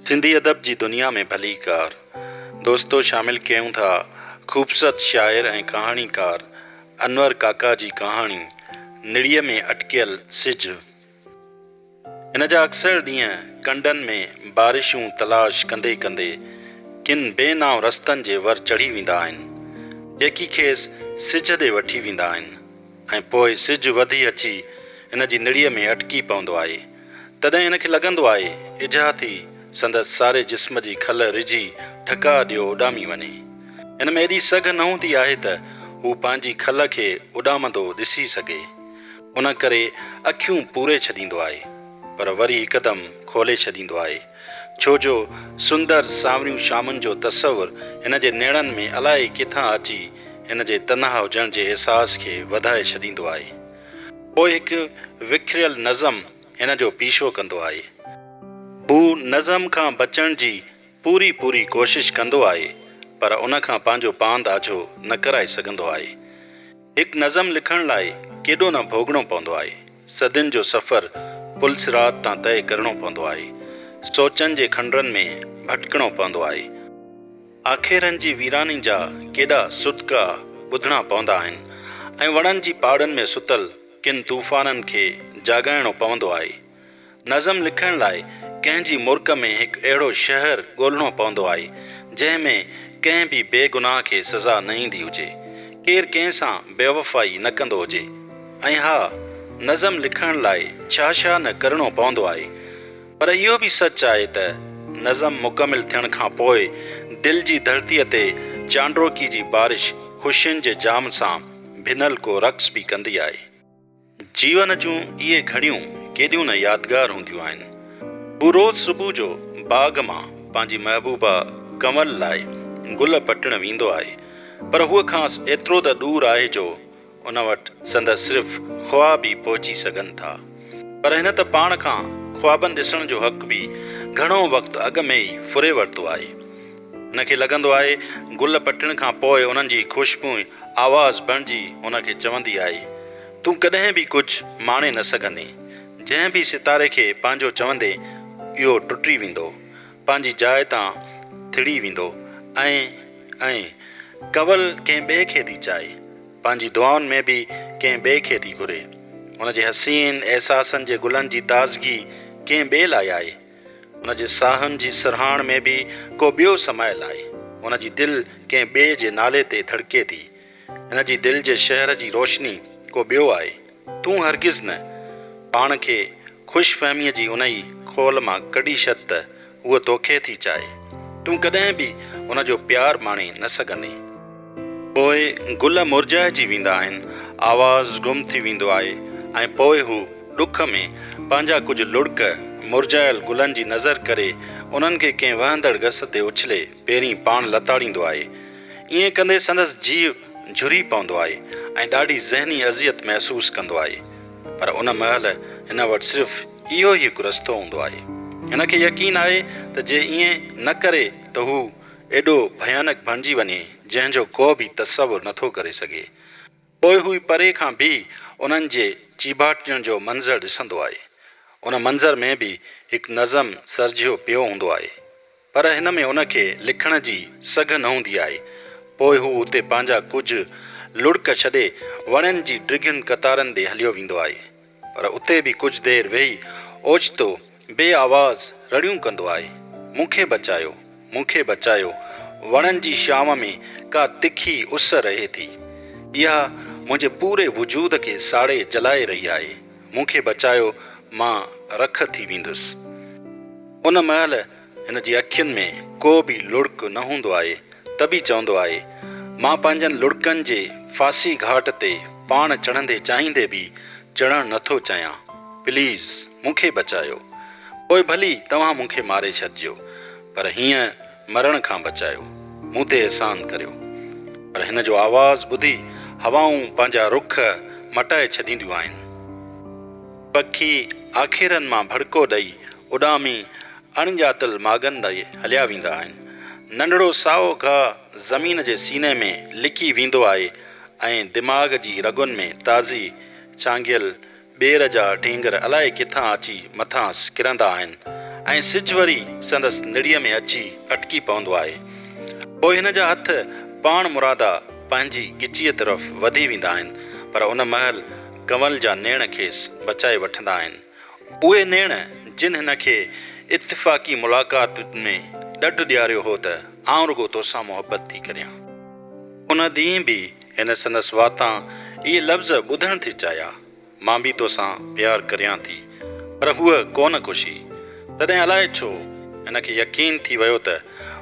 سنڌي ادب جي دنيا ۾ ڀليڪار دوستو شامل ڪيون ٿا خوبصورت شاعر ۽ ڪهاڻيڪار انور ڪاڪا جي ڪهاڻي نڙيء ۾ اٽڪيل سج. هن جا اڪثر ڏينهن ڪنڊن ۾ بارشون تلاش ڪندي ڪندي ڪن بي نانء رستن جي ور چڙهي ويندا آهن، جيڪي کيس سج ڏي وٺي ويندا آهن. ۽ پوء سج وڌي اچي هن جي نڙيء ۾ اٽڪي پوندو آهي، تڏهن هن کي لڳندو آهي اجها ٿي سندس ساري جسم جي کل رجهي ٺڪاء ڏيو اڏامي وڃي. هن ۾ ايڏي سگهه نه هوندي آهي ته هو پنهنجي کل کي اڏامندو ڏسي سگهي. ان ڪري اکيون پوري ڇڏيندو آهي، پر وري هڪدم کولي ڇڏيندو آهي. ڇو جو سندر سانوريون شامن جو تصور هن جي نيڻن ۾ الائي ڪٿان اچي هن جي تنها هجڻ جي احساس کي وڌائي ڇڏيندو آهي. پوء هڪ وکريل نظم هن جو پيشو ڪندو آهي. هو نظم کان بچڻ جي پوري پوري ڪوشش ڪندو آهي پر ان کان پنهنجو پاند آجو نه ڪرائي سگهندو آهي. هڪ نظم لکڻ لاء ڪيڏو نه ڀوڳڻو پوندو آهي. صدين جو سفر پل صراط تان طئي ڪرڻو پوندو آهي. سوچن جي کنڊرن ۾ ڀٽڪڻو پوندو آهي. آکيرن جي ويراني جا ڪيڏا سڏڪا ٻڌڻا پوندا آهن ۽ وڻن جي پاڙن ۾ ستل ڪن طوفانن کي جاڳائڻو پوندو آهي. نظم لکڻ لاء ڪنهن جي مرڪ ۾ هڪ اهڙو شهر ڳولڻو پوندو آهي، جنهن ۾ ڪنهن به بي گناهه کي سزا نه ايندي هجي، ڪير ڪنهن سان بيوفائي نه ڪندو هجي ۽ ها، نظم لکڻ لاء ڇا ڇا نه ڪرڻو پوندو آهي. پر اهو به سچ آهي ته نظم مڪمل ٿيڻ کان پوء دل جي ڌرتيء تي چانڊروڪي جي بارش خوشين جي جام سان ڀنل ڪو رقص به ڪندي آهي. جيون جون اهي گهڙيون ڪيڏيون نه يادگار هونديون آهن. هو روز صبح جو باغ مان پنهنجي محبوبا ڪنول لاء گل پٽڻ ويندو آهي پر هوء کانئس ايترو ته ڏور آهي جو ان وٽ سندس صرف خواب ئي پهچي سگهن ٿا. پر هن ته پاڻ کان خوابن ڏسڻ جو حق به گهڻو وقت اڳ ۾ ئي ڦري ورتو آهي. هن کي لڳندو آهي، گل پٽڻ کان پوء انهن جي خوشبوء آواز بڻجي هن کي چوندي آهي، تون ڪڏهن به ڪجهه ماڻي نه سگهندين. جنهن به ستاري کي پنهنجو چوندين، اهو ٽٽي ويندو، پنهنجي جاء تان ٿڙي ويندو ۽ ائين. ڪنول ڪنهن ٻئي کي ٿي چاهي، پنهنجي دعائن ۾ به ڪنهن ٻئي کي ٿي گهري. هن جي حسين احساسن جي گلن جي تازگي ڪنهن ٻئي لاء آهي. ان جي ساهن جي سرهاڻ ۾ به ڪو ٻيو سمايل آهي. ان جي دل ڪنهن ٻئي جي نالي تي ڌڙڪي ٿي. ان جي دل جي شهر جي روشني ڪو ٻيو آهي. تون هرگز نه. پاڻ کي خوش فهميء جي انهي خول مان ڪڍي ڇڏ ته هوء توکي ٿي چاهي. تون ڪڏهن به ان جو پيار ماڻي نه سگهندين. پوء گل مرجهائجي ويندا آهن، آواز گم ٿي ويندو آهي ۽ پوء هو ڏک ۾ پنهنجا ڪجهه لڙڪ مرجهايل گلن جي نظر ڪري انهن کي ڪنهن وهندڙ گس تي اڇلي پيرين پاڻ لتاڙيندو آهي. ائين ڪندي سندس جيء جهري پوندو آهي ۽ ڏاڍي ذهني اذيت محسوس ڪندو آهي. پر ان مهل هن وٽ صرف اهو ئي هڪ رستو هوندو آهي. هن کي يقين آهي ته جي ائين نه ڪري ته هو ايڏو ڀيانڪ بڻجي وڃي جنهن جو ڪو به تصور نه ٿو ڪري سگهي. پوء هو پري کان به انهن جي چيڀاٽيڻ جو منظر ڏسندو آهي. ان منظر ۾ به هڪ نظم سرجهيو پيو هوندو آهي. پر هن ۾ ان کي لکڻ جي سگهه نه هوندي آهي. پوء هو اتي پنهنجا ڪجهه لڙڪ ڇڏي وڻين جي ڊگهين قطارن ڏي هليو ويندو آهي. پر اتي به ڪجهه دير ويهي اوچتو بي آواز رڙيون ڪندو آئي، مون کي بچايو، مون کي بچايو، وڻن جي شام ۾ ڪا تکي اس رهي ٿي، اها منهنجي پوري وجود کي ساڙي جلائي رهي آهي، مون کي بچايو مان رک ٿي ويندس. ان مهل. هن جي اکين ۾ ڪو به لڙڪ نه هوندو آهي ته به چوندو آهي، مان پنهنجن لڙڪن جي ڦاسي گهاٽ تي پاڻ چڙهندي چاهيندي به چڙهڻ نه ٿو چاهيان. پليز مون کي بچايو. پوء ڀلي توهان مون کي ماري ڇڏجو پر هينئن مرڻ کان بچايو. مون تي احسان ڪريو. پر هن جو آواز ٻڌي هوائون پنهنجا رخ مٽائي ڇڏينديون آهن. پکي آکيرن مان ڀڙڪو ڏئي اڏامي اڻڄاتل ماڳن ڏي هليا ويندا آهن. ننڍڙو سائو گاهه زمين جي سيني ۾ لڪي ويندو آهي ۽ دماغ جي رڳن ۾ تازي ڇانگيل ٻير جا ڍينگر الائي ڪٿان اچي مٿانئس ڪرندا آهن ۽ سج وري سندس نڙيء ۾ اچي اٽڪي پوندو آهي. پوء هن جا هٿ پاڻمرادا پنهنجي ڳچيء طرف وڌي ويندا آهن، پر ان مهل ڪنول جا نيڻ کيس بچائي وٺندا آهن. اهي نيڻ جن هن کي اتفاقي ملاقات ۾ ڏڍ ڏياريو هو ته آئون رڳو توسان محبت ٿي ڪريان. ان ڏينهن به هن سندس واتان اهي لفظ ٻڌڻ ٿي چاهيا، مان به توسان پيار ڪريان ٿي. پر هوء ڪو نه ڪشي. تڏهن الائي ڇو هن کي يقين ٿي ويو ته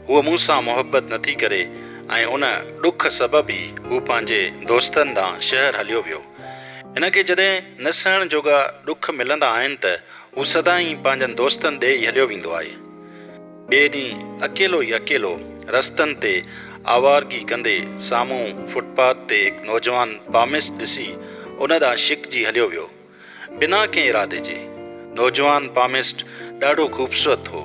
هوء مون سان محبت نٿي ڪري ۽ ان ڏک سبب ئي هو پنهنجي دوستن ڏانهن شهر هليو ويو. هن کي جڏهن نه سهڻ جوڳا ڏک ملندا آهن ته هو سدائين پنهنجن دوستن ڏي ئي هليو ويندو آهي. ٻئي ڏينهن اڪيلو ئي اڪيلو رستن تي آوارگي ڪندي سامهون فٽ پاٿ تي هڪ نوجوان پاميس ڏسي ان ڏانهن شڪجي هليو ويو. بنا ڪنهن ارادي جي. نوجوان پاميسٽ ڏاڍو خوبصورت هو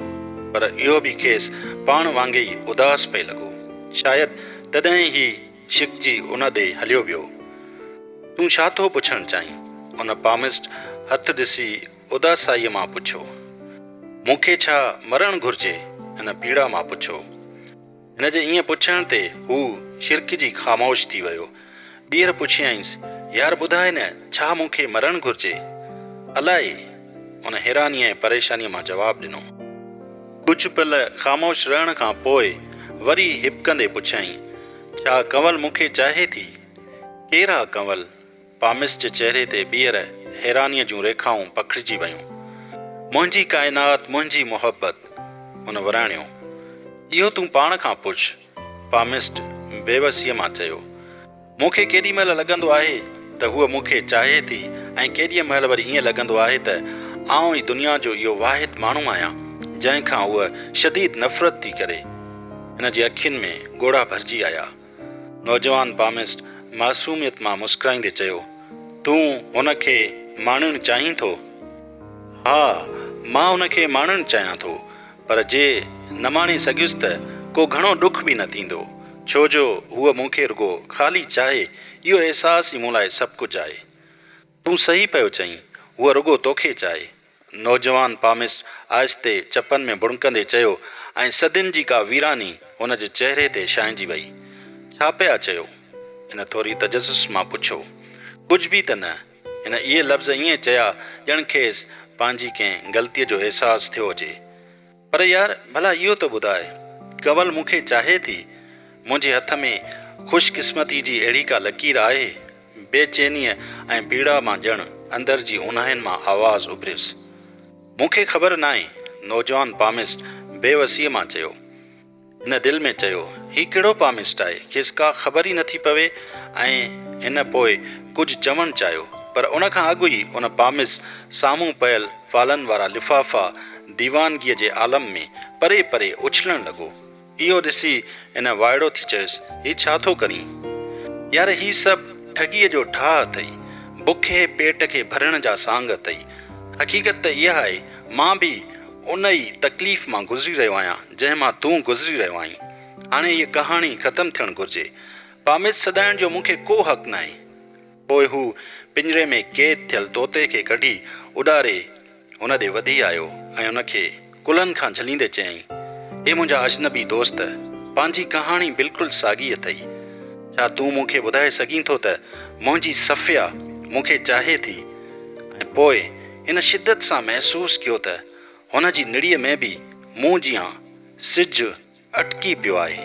پر اهو به کيس پاڻ وانگي ئي اداس پئي لڳو. شايد تڏهن هي. ڇڪجي ان ڏي هليو ويو. تون ڇا ٿو پڇڻ چاهين؟ ان پامسٽ هٿ ڏسي اداسائيء مان پڇيو. مون کي ڇا مرڻ گهرجي؟ هن پيڙا مان پڇيو. هن جي ائين پڇڻ تي هو ڇرڪجي خاموش ٿي ويو. ٻيهر پڇيائينس، يار ٻڌاء نه ڇا مون کي مرڻ گهرجي؟ الائي! ان حيرانيء ۽ پريشانيء مان جواب ڏنو. ڪجهه پل خاموش رهڻ کان پوء وري هٻڪندي پڇيائين، ڇا ڪنول مون کي چاهي ٿي؟ ڪير آ ڪنول؟ پامس جي چهري تي ٻيهر حيرانيء جون ريکائون پکڙجي ويون. منهنجي ڪائنات، منهنجي محبت! هن وراڻيو. اهو تون پاڻ کان پڇ. پامسٽ بيوسيء مان چيو، مون کي ڪيڏي مهل لڳندو آهي ته هوء مون کي چاهي ٿي ۽ ڪيڏيء مهل وري ائين لڳندو آهي ته آئون ئي دنيا جو اهو واحد ماڻهو آهيان جنهن کان هوء شديد نفرت ٿي ڪري. هن جي اکين ۾ ڳوڙها ڀرجي آيا. نوجوان پامسٽ معصوميت مان مسڪرائيندي چيو، تون هن کي ماڻڻ چاهين ٿو؟ ها، مان هن کي ماڻڻ چاهيان ٿو. پر جي نه ماڻي سگهيس ته ڪو گهڻو ڏک به نه ٿيندو، ڇو جو هوء مون کي رڳو خالي چاهي، اهو احساس ئي مون لاء سڀ ڪجهه آهي. تون صحيح پيو چئين، هوء رڳو توکي چاهي. نوجوان پامسٽ آهستي چپن ۾ ڀڻڪندي چيو ۽ صدين جي ڪا ويراني هن جي چهري تي ڇانئجي وئي. ڇا پيا چيو؟ هن ٿوري تجسس مان پڇيو. ڪجهه به ته نه. هن اهي لفظ ائين چيا ڄڻ کيس پنهنجي ڪنهن غلطيء جو احساس ٿيو هجي. پر يار ڀلا اهو ته ٻڌاء، ڪنول مون کي چاهي ٿي؟ منهنجي هٿ ۾ خوش قسمتيء جي اهڙي ڪا لڪير آهي؟ بي چينيء ۽ پيڙا مان ڄڻ اندر جي اونهاين مان آواز اڀريس. مون کي خبر ناهي، نوجوان پاميسٽ بي وسيء مان چيو. هن دل ۾ چيو، هي ڪهڙو پامسٽ آهي، کيس ڪا خبر ئي نٿي پوي ۽ هن پوء ڪجهه چوڻ چاهيو، پر ان کان اڳ ئي ان پامس سامهون پيل فالن وارا لفافا ديوانگيء جي عالم ۾ پري پري اڇلڻ لڳو. اهو ڏسي هن وائڙو ٿي چيس، هي ڇا ٿو ڪرين؟ يار هي سڀ ٺڳيء جو ٺاهه اٿئي، بکئي پيٽ کي ڀرڻ جا سانگ اٿئي، حقيقت ته اها آهي، مان به ان ئي تڪليف مان گذري رهيو آهيان، جنهن مان تون گذري رهيو آهين. هاڻي هيء ڪهاڻي ختم ٿيڻ گهرجي. پاميد سڏائڻ جو مون کي ڪو حق ناهي. پوء هو پڃري ۾ قيد ٿيل طوطي کي ڪڍي اڏاري هن ڏي وڌي آيو ۽ هن کي ڪلهن کان جهليندي چيائين، اي منهنجا اجنبي دوست، پنهنجي ڪهاڻي بلڪل ساڳي اٿئي. ڇا تون مون کي ٻڌائي سگهين ٿو ته منهنجي صفيه مون کي چاهي ٿي ۽ پوء هن شدت سان محسوس ڪيو ته هن جي نڙيء ۾ به مون جيان سج اٽڪي پيو آهي.